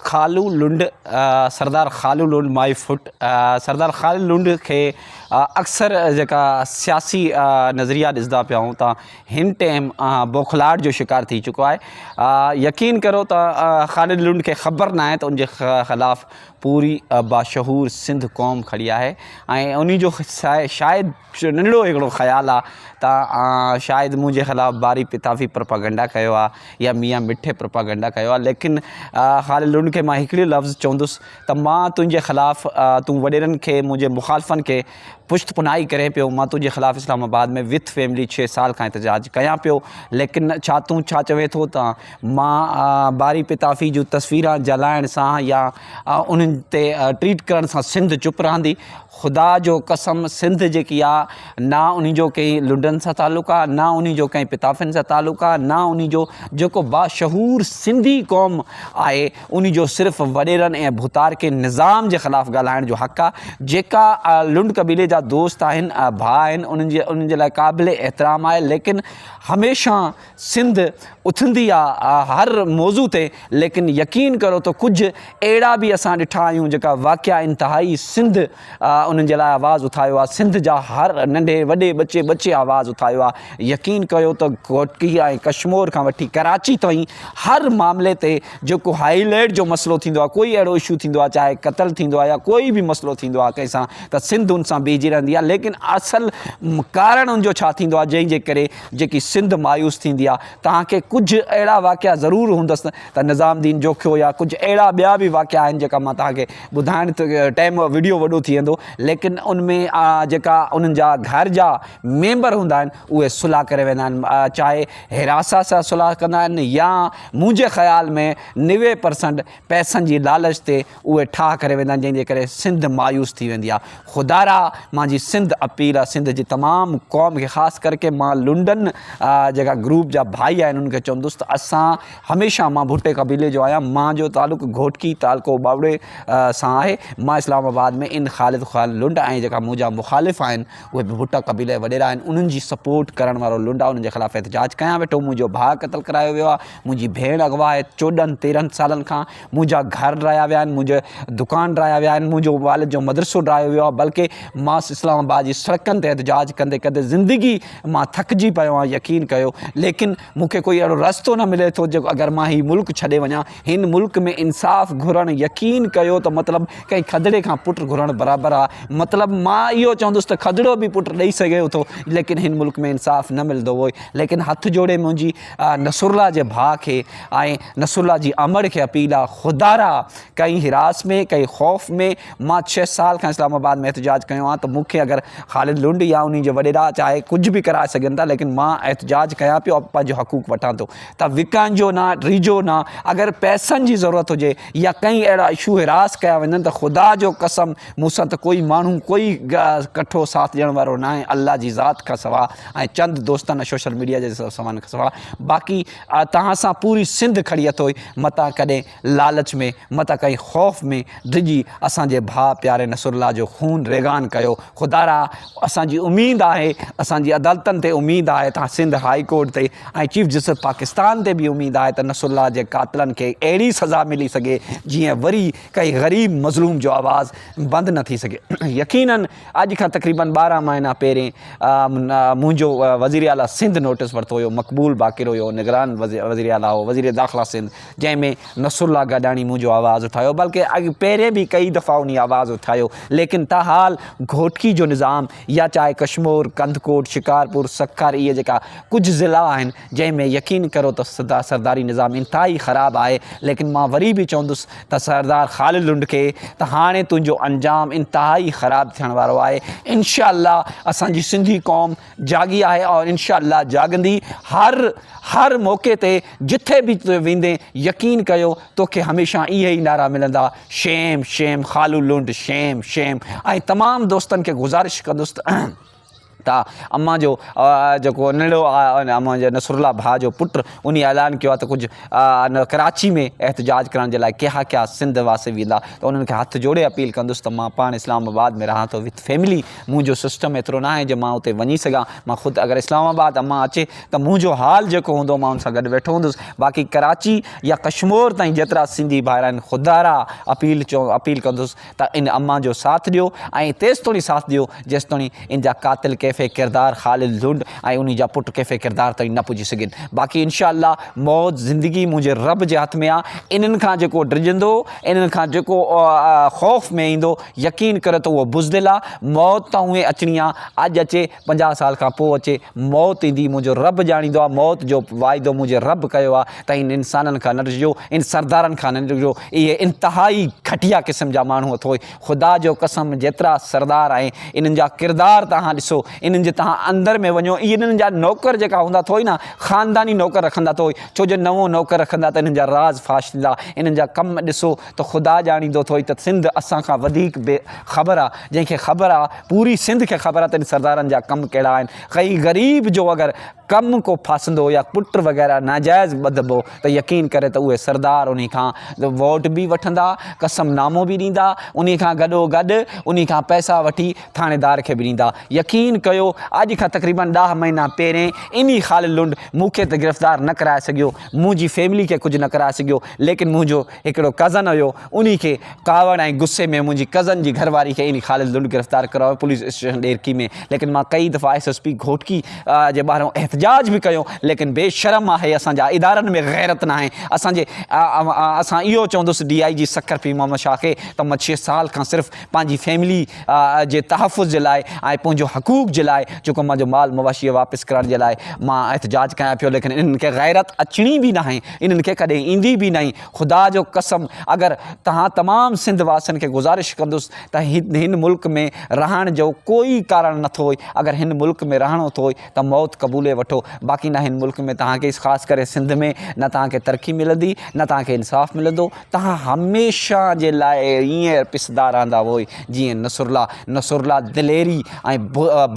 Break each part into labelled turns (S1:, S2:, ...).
S1: خالو Lund, Sardar Khalu Lund my foot, Sardar Khalid Lund کي اڪثر جيڪا سياسي نظريا ڏسدا پيا آهون تان هن ٽيم بوکلاهٽ جو شڪار ٿي چڪو آهي يقين ڪرو ته خالد لنڊ کي خبر ناهي ته ان جي خلاف پوري باشعور سنڌ قوم کڙي آهي ۽ انهي جو شايد ننڍڙو هڪڙو خيال آ ته شايد منهنجي خلاف باري پتافي پروپاگنڊا ڪيو آ يا ميان مٺي پروپاگنڊا ڪيو آ ليڪن خالد لنڊ کي مان هڪڙي لفظ چوندس ته مان تنهنجي خلاف تون وڏيرن کي منهنجي مخالفن کي پشت پناهي ڪرين پيو مان تنهنجي خلاف اسلام آباد ۾ وٿ فيملي ڇهه سال کان احتجاج ڪيان پيو ليڪن ڇا تون ڇا چوين ٿو ته مان باري پتافي جون تصويران جلائڻ سان يا انهن تي ٽريٽ ڪرڻ سان سنڌ چپ رهندي خدا جو قسم سنڌ جيڪي آ نا انهي جو ڪئي لنڊن سان تعلق آ نا انهي جو ڪئي پتافين سان تعلق آ نا انهي جو جيڪو باشعور سنڌي قوم آهي انهي جو صرف وڏيرن ۽ ڀوتارڪين نظام جي خلاف ڳالهائڻ جو حق آ جيڪا لنڊ قبيلي جا دوست آهن ڀاء آهن انهن جي لاء قابل احترام آهي ليڪن هميشه سنڌ اٿندي آ هر موضوع تي ليڪن يقين ڪرو ته ڪجهه اهڙا به اسان ڏٺا آهيون جيڪا واقعا انتهائي سنڌ انهن جي لاء آواز اٿايو آ سنڌ جا هر ننڍي وڏي ٻچي ٻچي آواز اٿايو آ يقين ڪيو ته گهوٽڪي ۽ ڪشمور کان وٺي ڪراچي تائين هر معاملي تي جيڪو هائي ليڊ جو مسئلو ٿيندو آ ڪوئي اهڙو اشو ٿيندو آ چاهي قتل ٿيندو آ يا ڪوئي به مسئلو ٿيندو آ ڪنهن سان ته سنڌ ان سان بيهجي رهندي آ ليڪن اصل ڪارڻ ان جو ڇا ٿيندو آ جنهن جي ڪري جيڪي سنڌ مايوس ٿيندي آ توهان کي ڪجھ اهڙا واقعا ضرور هوندس ته نظام دين جوکيو يا ڪجھ اهڙا ٻيا به واقعا آهن جيڪا مان توهان کي ٻڌائڻ ته ٽيم وڊيو وڏو ٿي ويندو ليڪن ان ۾ جيڪا انهن جا گهر جا ميمبر هوندا آهن اهي صلح ڪري ويندا آهن چاهي هراسا سان صلح ڪندا آهن يا منهنجي خيال ۾ نوي پرسنٽ پئسن جي لالچ تي اهي ٺاهه ڪري ويندا آهن جنهن جي ڪري سنڌ مايوس ٿي ويندي آهي خدارا مان جي سنڌ اپيل آهي سنڌ جي تمام قوم کي خاص ڪرڪي مان لنڊن جيڪا گروپ جا ڀائي آهن انهن کي چوندس ته اسان هميشه مان ڀٽي قبيلي جو آهيان مان جو تعلق گهوٽڪي تعلقو ٻاوڙي سان آهي مان اسلام آباد ۾ ان خالد خال لنڊ ۽ جيڪا منهنجا مخالف آهن اهي به ڀٽا قبيلي جا وڏيرا آهن انهن جي سپورٽ ڪرڻ وارو لنڊ آهي انهن جي خلاف احتجاج ڪيان ويٺو منهنجو ڀاء قتل ڪرايو ويو آهي منهنجي ڀيڻ اغوا آهي چوڏهن تيرهن سالن کان منهنجا گهر ڊهايا ويا آهن، منهنجا دڪان ڊهايا ويا آهن، منهنجو والد جو مدرسو ڊهايو ويو آهي بلڪه مان اسلام آباد جي سڙڪن تي احتجاج ڪندي ڪندي زندگي مان ٿڪجي پيو آهيان يقين ڪيو ليڪن مون کي ڪوئي اهڙو رستو نه ملي ٿو جيڪو اگر مان هي ملڪ ڇڏي وڃان هن ملڪ ۾ انصاف گهرڻ يقين ڪيو ته مطلب ڪنهن کدڙي کان پٽ گهرڻ برابر آهي مطلب مان اهو چوندس ته کدڙو به پٽ ڏئي سگهي ٿو ليڪن هن ملڪ ۾ انصاف نه ملندو هو ليڪن هٿ جوڙي منهنجي نصرالله جي ڀاء کي ۽ نصرالله جي امڙ کي اپيل آ خدا را ڪئين حراس ۾ ڪئين خوف ۾ مان ڇهه سال کان اسلام آباد ۾ احتجاج ڪيو آ ته مون کي اگر خالد لنڊ يا انهي جي وڏيرا چاهي ڪجهه به ڪرائي سگهن ٿا ليڪن مان احتجاج ڪيان پيو پنهنجو حقوق وٺان ٿو ته وڪائنجو نه ڊيجو نه اگر پئسن جي ضرورت هجي يا ڪئين اهڙا اشو حراس ڪيا وڃن ته خدا جو قسم مون سان ته ڪوئي ماڻهو ڪوئي ڪٺو ساٿ ڏيڻ وارو ناهي الله جي ذات کان سوا ۽ چند دوستن سوشل ميڊيا جي سوان کان سواء باقي توهان سان پوري سنڌ کڙي اٿوئي متان ڪڏهن لالچ ۾ متان ڪنهن خوف ۾ ڊڄي اسان جي ڀاء پياري نصر الله جو خون ريگان ڪيو خدارا اسان جي اميد آهي اسان جي عدالتن تي اميد آهي ته سنڌ هاء ڪورٽ تي ۽ چيف جسٽس پاڪستان تي به اميد آهي ته نصر الله جي قاتلن کي اهڙي سزا ملي سگهي جيئن وري ڪنهن غريب مظلوم جو آواز بند نه ٿي سگهي يقينن اڄ کان تقريبن ٻارهن مهينا پهرين منهنجو وزير اعليٰ سنڌ نوٽيس ورتو هيو مقبول باقر هيو نگران وزير اعليٰ هو وزير داخلا سنڌ جنهن ۾ نصرالله گڏاڻي منهنجو آواز اٿايو بلڪه اڳ پهرين به ڪئي دفعا انهي آواز اٿايو ليڪن تاحال گهوٽڪي جو نظام يا چاهي ڪشمور ڪنڌڪوٽ شڪارپور سکر اهي جيڪا ڪجهه ضلعا آهن جنهن ۾ يقين ڪرو ته سرداري نظام انتهائي خراب آهي ليڪن مان وري به چوندس ته سردار خالد لنڊڪي ته هاڻي تنهنجو انجام انتهائي خراب ٿيڻ وارو آهي انشاء الله اسان جي سنڌي قوم جاڳي آهي اور انشاء الله جاڳندي هر هر موقعي تي جٿي به تو ويندي يقين ڪيو توکي هميشه اهي ئي نعرا ملندا shame shame Khalu Lund shame shame ۽ تمام دوستن کي گذارش ڪندس ته ته امان جو جيڪو ننڍڙو امان جي نصر الله ڀاء جو پٽ ان اعلان ڪيو آهي ته ڪجهه ان ڪراچي ۾ احتجاج ڪرڻ جي لاء ڪيها ڪيها سنڌ واسي ويندا ته انهن کي هٿ جوڙي اپيل ڪندس ته مان پاڻ اسلام آباد ۾ رهان ٿو وٿ فيملي منهنجو سسٽم ايترو نه آهي جو مان اتي وڃي سگهان مان خود اگر اسلام آباد امان اچي ته منهنجو حال جيڪو هوندو مان ان سان گڏ ويٺو هوندس باقي ڪراچي يا ڪشمور تائين جيترا سنڌي ڀائر آهن خدارا اپيل چو اپيل ڪندس ته ان امان جو ساٿ ڏيو ۽ تيستوڻي ساٿ ڏيو جيستوڻي ان جا قاتل ڪيفي ڪردار خالد لنڊ ۽ انهي جا پٽ ڪيفي ڪردار تائين نه پڄي سگهين باقي انشاء الله موت زندگي منهنجي رب جي هٿ ۾ آ انهن کان جيڪو ڊڄندو انهن کان جيڪو خوف ۾ ايندو يقين ڪريو ته اهو بزدل آ موت ته اوهين اچڻي آ اڄ اچي پنجاهه سال کان پوء اچي موت ايندي منهنجو رب ڄاڻيندو آ موت جو واعدو منهنجي رب ڪيو آ ته ان انسانن کان نه ڏجو، ان سردارن کان نه ڏجو، اهي انتهائي گهٽيا قسم جا ماڻهو اٿئو. خدا جو قسم جيترا سردار آهن، انهن جا ڪردار توهان ڏسو، انهن جي توهان اندر ۾ وڃو، اهي انهن جا نوڪر جيڪا هوندا اٿئو نه، خانداني نوڪر رکندا اٿئو، ڇو جو نوون نوڪر رکندا ته انهن جا راز فاش ٿيندا، انهن جا ڪم ڏسو ته خدا ڄاڻيندو اٿئو ته سنڌ اسان کان وڌيڪ بي خبر آ، جنهن کي خبر آ، پوري سنڌ کي خبر آ ته ان سردارن جا ڪم ڪهڙا آهن، ڪئي غريب جو اگر. ڪم ڪو ڦاسندو يا پٽ وغيره ناجائز ٻڌبو ته يقين ڪري ته اهي سردار انهي کان ووٽ به وٺندا، قسم نامو به ڏيندا، انهي کان گڏو گڏ انهي کان پئسا وٺي ٿاڻيدار کي به ڏيندا. يقين ڪيو اڄ کان تقريبن ڏاهه مهينا پهرين انهي خالد لنڊ مون کي ته گرفتار نه ڪرائي سگهيو، منهنجي فيملي کي ڪجهه نه ڪرائي سگهيو ليڪن منهنجو هڪڙو ڪزن هيو انهي کي ڪاوڙ ۽ غصي ۾ منهنجي ڪزن جي گهر واري کي يعني خالد لنڊ گرفتار ڪرايو پوليس اسٽيشن ڏيرڪي ۾ ليڪن مان ڪئي دفعا ايس ايس پي گهوٽڪي جي ٻاهران احتجاج به ڪيو ليڪن بي شرم آهي اسان جا ادارن ۾ غيرت ناهي اسان جي اسان اهو چوندس ڊي آئي جي سکر پي محمد شاهه کي ته مڇي سال کان صرف پنهنجي فيملي جي تحفظ جي لاء ۽ پنهنجو حقوق جي لاء جيڪو مانجو مال مواشيء واپس ڪرڻ جي لاء مان احتجاج ڪيان پيو ليڪن انهن کي غيرت اچڻي به ناهي انهن کي ڪڏهن ايندي به ناهي خدا جو قسم اگر تهان تمام سنڌ واسين کي گذارش ڪندس ته هن ملڪ ۾ رهڻ جو ڪوئي ڪارڻ نه ٿوئي اگر هن ملڪ ۾ رهڻو ٿوئي ته موت قبولي وٺو باقي نه هن ملڪ ۾ تهان کي خاص ڪري سنڌ ۾ نه تهان کي ترقي ملندي نه تهان کي انصاف ملندو تهان هميشه جي لاء ائين پسدا رهندا هئي جيئن نصرالله نصرالله دليري ۽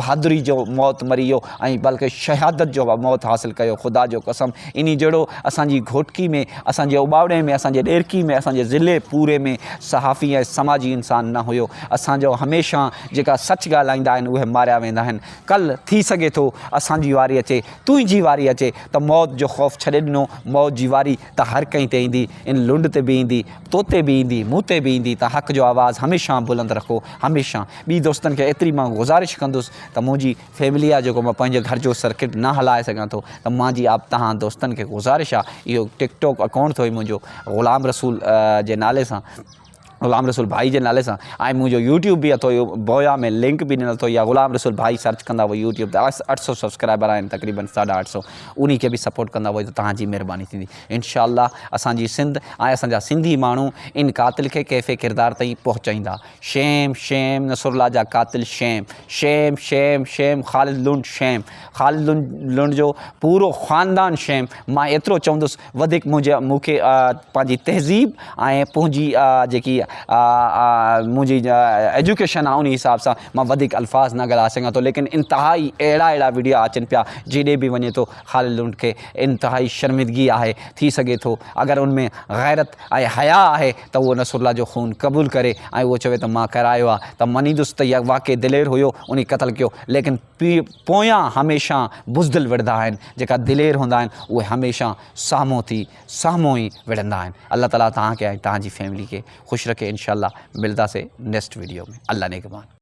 S1: بهادري جو موت مري ويو ۽ بلڪ شهادت جو موت حاصل ڪيو خدا جو قسم انهي جهڙو اسان جي گهوٽڪي ۾ اسان جي اوٻاوڙي ۾ اسان جي ڏيرڪي ۾ اسان جي ضلعي پوري ۾ صحافي ۽ سماجي انسان نه هيو اسان جو هميشه جيڪا سچ ڳالهائيندا آهن اهي ماريا ويندا آهن ڪل ٿي سگهي ٿو اسان جي واري اچي تنهنجي واري اچي ته موت جو خوف ڇڏي ڏنو موت جي واري ته هر ڪنهن تي ايندي، ان لنڊ تي به ايندي، تو تي به ايندي، مون تي به ايندي ته حق جو آواز هميشه بلند رکو، هميشه. ٻي دوستن کي ايتري مان گذارش ڪندس ته منهنجي فيملي آ جيڪو مان پنهنجي گهر جو سرڪٽ نه هلائي سگهان ٿو ته مانجي آپ توهان دوستن کي گذارش آ اهو ٽڪ ٽوڪ اڪائونٽ اٿئي منهنجو غلام رسول جي نالي سان غلام رسول ڀائي جي نالي سان ۽ منهنجو يوٽيوب به اٿو اهو بويا ۾ لنڪ به ڏنل اٿو يا غلام رسول ڀائي سرچ ڪندا وئي يوٽيوب تي اٺ سؤ سبسڪرائبر آهن تقريبن ساڍا اٺ سؤ انهي کي به سپورٽ ڪندا وئي ته توهان جي مهرباني ٿيندي انشاء الله اسان جي سنڌ ۽ اسان جا سنڌي ماڻهو ان قاتل کي ڪيفي ڪردار تائين پهچائيندا شيم شيم نصرالله جا قاتل shame shame shame shame Khalid Lund shame Khalid Lund جو پورو خاندان شيم مان ايترو چوندس وڌيڪ منهنجي مون کي پنهنجي تهذيب ۽ پنهنجي جيڪي منهنجي ايجوڪيشن آهي ان حساب سان مان وڌيڪ الفاظ نه ڳالهائي سگهان ٿو ليڪن انتهائي اهڙا اهڙا ويڊيا اچن پيا جيڏي به وڃي ٿو خالد لنڊ کي انتهائي شرمندگي آهي ٿي سگهي ٿو اگر ان ۾ غيرت ۽ حياء آهي ته اهو نصر الله جو خون قبول ڪري ۽ اهو چوي ته مان ڪرايو آهي ته منيندس ته واقعي دلير هيو ان قتل ڪيو ليڪن پويان هميشه بزدل وڙهندا آهن، جيڪا دلير هوندا آهن اهي هميشه سامهون ٿي سامهون ئي وڙهندا آهن. الله تعالي توهان کي ۽ توهان جي فيملي کي خوش رکي انشاء الله ملداسين نيڪسٽ ويڊيو ۾ الله نگهبان.